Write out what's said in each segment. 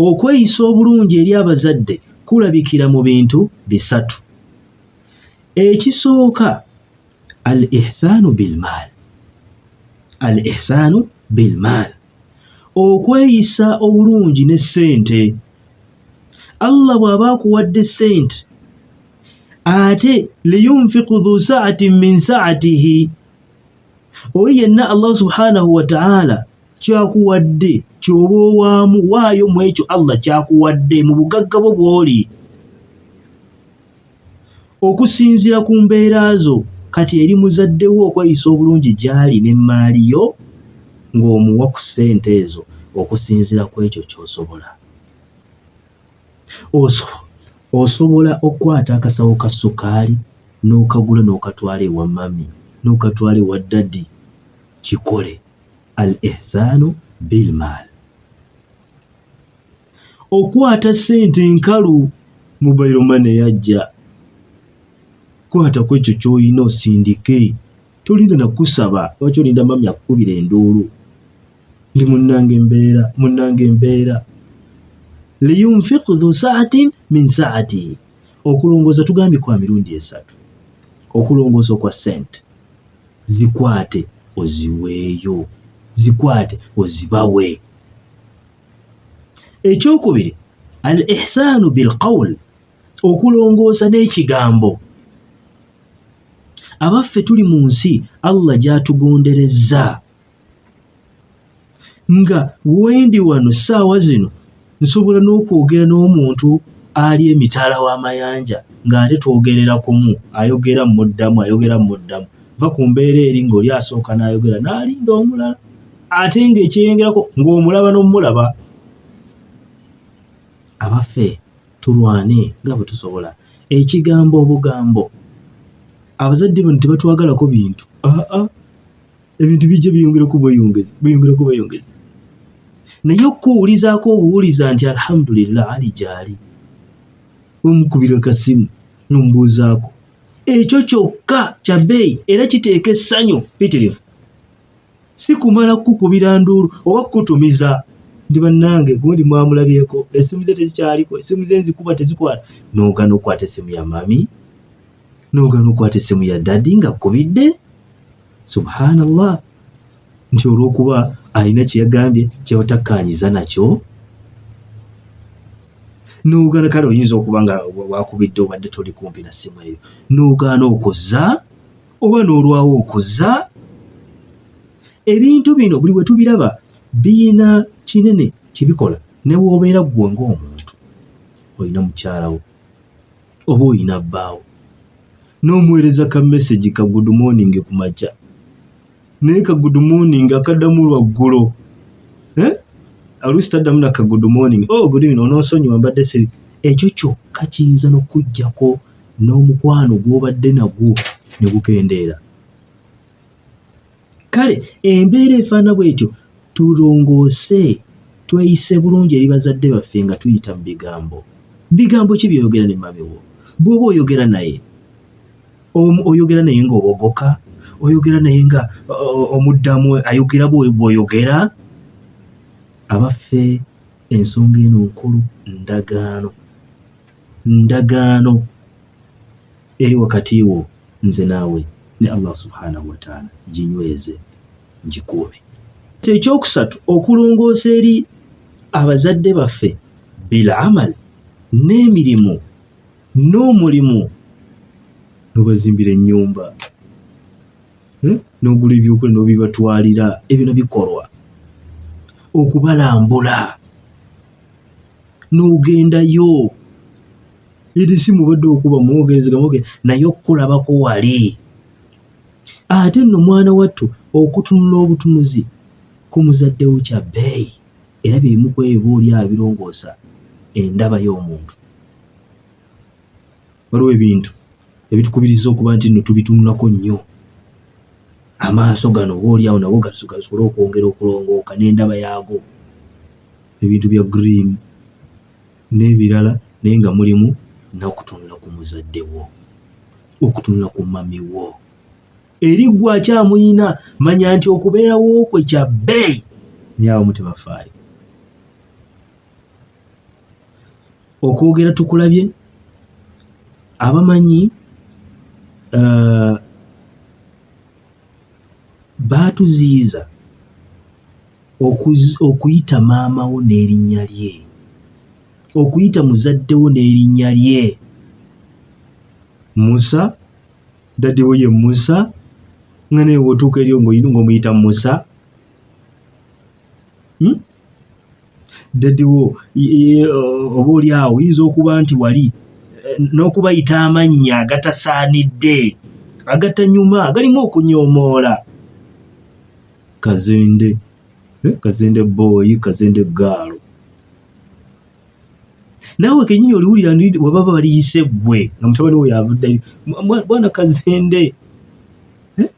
Okweyisa obulungi eri abazadde kulabikira mu bintu bisatu. Ekisooka al ihsaanu bilmaal al ihsaanu bilmaal okweyisa obulungi ne ssente. Allah bw'aba akuwadde ssente ate liyunfiqu dhu sa'atin min sa'atihi oyo yenna Allah subhanahu wa ta'ala kyakuwadde kyoba owaamu waayo mu ekyo allah kyakuwadde mu bugagga bwo bw'oli okusinziira ku mbeera zo kati eri muzadde wo okweyisa obulungi gy'ali n'emmaali yo ng'omuwa ku ssente ezo okusinziira ku ekyo ky'osobola osobola okukwata akasawo ka sukaali n'okagula n'okatwala ewa mami n'okatwala ewa ddadi kikole al ihsaanu bil maal okwata ssente enkalu mobile money yajja kwata ku ekyo ky'olina osindike tolinda nakusaba lwaki olinda mami akukubira enduulu ndi munnange embeera munnange embeera liyunfiq dhu saatin min saatihi okulongoosa tugambye kwa mirundi esatu okulongoosa okwa ssente Zikwate oziweeyo. Zikwate ozibawe. Ekyokubiri, al ihsaanu bil qawl, okulongoosa n'ekigambo. Abaffe tuli mu nsi Allah gy'atugonderezza. nga wendi wano saawa zino nsobola n'okwogera n'omuntu ali emitala w'amayanja ng'ate twogerera kumu ayogera muddamu ayogera muddamu va ku mbeera eri ng'oli asooka n'ayogera n'alinda omulala ate ng'ekyeyengerako ng'omulaba n'omulaba abaffe tulwane nga bwe tusobola ekigambo obugambo abazadde bano tebatwagalako bintu aa ah, ah. ebintu bijja byeyongera okubweyongezi bweyongera okubweyongezi naye okukuwulizaako obuwuliza nti alhamdulillah ali gyali omukubira kasimu nomubuuzaako ekyo kyokka kya bbeeyi era kiteeka essanyu pitirivu si kumala kukukubira nduulu oba kukutumiza ndi bannange gundi mwamulabyeko esimu ze tezikyaliko esimu ze nzikuba tezikwata noogana okukwata esimu ya mami noogana okukwata esimu ya dadi nga kkubidde subhanallah nti olwokuba alina kyeyagambye kyebatakkanyiza nakyo nogaana kale oyinza okuba nga wakubidde obadde toli kumpi na ssimu eyo nogaana okuzza oba n'olwawo okuzza ebintu bino buli bwe tubiraba biyina kinene kye bikola ne woobeera ggwe ng'omuntu olina mukyalawo oba olina bbaawo n'omuweereza ka message ka good morning ku makya naye ka good morning akaddamu lwaggulo eh? alusi taddamu na ka good morning oh, good evening onoosonyiwa mbadde siri ekyo kyokka kiyinza n'okukuggyako n'omukwano gw'obadde nagwo ne gukendeera kale embeera efaana bwetyo tulongoose tweyise bulungi eri bazadde baffe nga tuyita mu bigambo bigambo ki byoyogera ne mamiwo bwoba oyogera naye oyogera naye nga obogoka oyogera naye nga omuddamu ayogera bwoyogera abaffe ensonga eno nkulu ndagaano ndagaano eri wakati wo nze naawe ne Allah subhanahu wa ta'ala ginyweze ngikuume ekyokusatu okulongoosa eri abazadde baffe bil amal n'emirimu n'omulimu nobazimbira ennyumba hmm? n'ogula ebyokulya nobibatwalira ebino bikolwa okubalambula n'ogendayo eri si mubadde okuba muwogeezegamuge naye okukulabako wali ate nno mwana wattu okutunula obutunuzi ku muzadde wo kya bbeeyi era bye bimu ku ebyo oba oli abirongoosa endaba y'omuntu waliwo ebintu ebitukubiriza okuba nti nno tubitunulako nnyo amaaso gano oba oli awo nago gasobole okwongera okulongooka n'endaba yaago ebintu bya green n'ebirala naye nga mulimu n'okutunula ku muzadde wo okutunula ku mami wo eri gwe akyamuyina manya nti okubeerawo kwe kya bbeeyi naye abamu tebafaayo okwogera tukulabye abamanyi uh, baatuziyiza Okuyita maama wo n'erinnya lye. Okuyita muzadde wo n'erinnya lye. Musa, dadi wo ye Musa, nga naye wotuuka eryo ng'omuyita Musa. Hmm? Dadi wo oba oli awo oyinza okuba nti wali eh, n'okubayita amannya agatasaanidde, agatanyuma, agalimu okunyoomoola. kazende eh, kazende boy kazende gaalo naawe kenyini oliwulira ndi webaba baliyise gwe nga mutabani wo yavuddayo bwana kazende eh?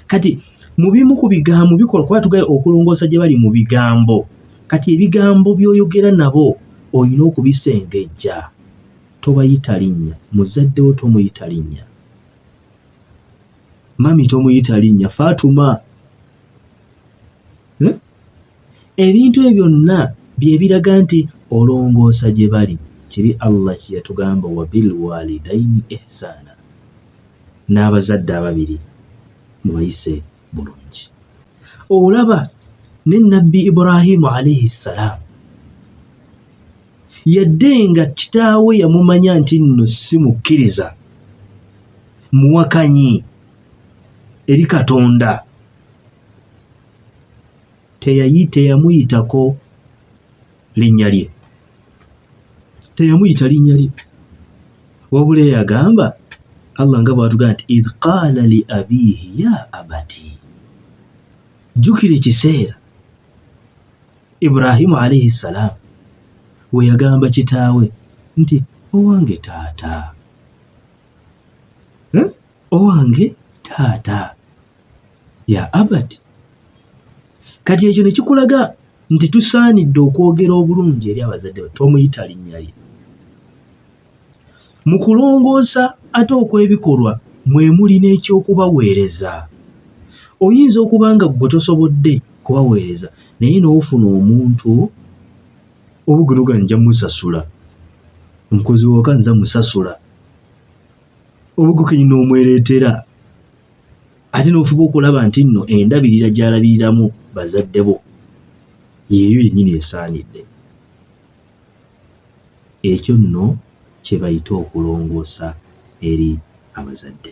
kati mu bimu ku bigambo bikola kuba tugaye okulongoosa gye bali mu bigambo kati ebigambo by'oyogera nabo olina okubisengejja tobayita linnya muzaddewo tomuyita linnya mami tomuyita linnya fatuma eh? ebintu ebyo byonna byebiraga nti olongoosa gye bali kiri allah kyeyatugamba wabilwalidaini ihsaana n'abazadde ababiri mubayise bulungi olaba ne nabbi ibrahimu alaihi ssalaamu yadde nga kitaawe yamumanya nti nno si mukkiriza muwakanyi eri katonda teyayi teyamuyitako linnya lye teyamuyita linnya lye wabula eyagamba allah nga bwatugamba nti idh qaala li abiihi ya abati jjukira ekiseera ibrahimu alaihi salaamu we yagamba kitaawe nti owange taata eh? owange taata ya abati kati ekyo ne kikulaga nti tusaanidde okwogera obulungi eri abazadde ba tomuyita linnya lye Mu kulongoosa ate okw'ebikolwa mwe muli n'eky'okubaweereza. Oyinza okuba nga ggwe tosobodde kubaweereza naye n'ofuna omuntu obugunoga nja musasula omukozi wooka nza musasula obugukenyi n'omwereetera ate n'ofuba okulaba nti nno endabirira gy'alabiriramu bazadde bo yeeyo yennyini esaanidde. Ekyo nno kye bayita okulongoosa eri abazadde.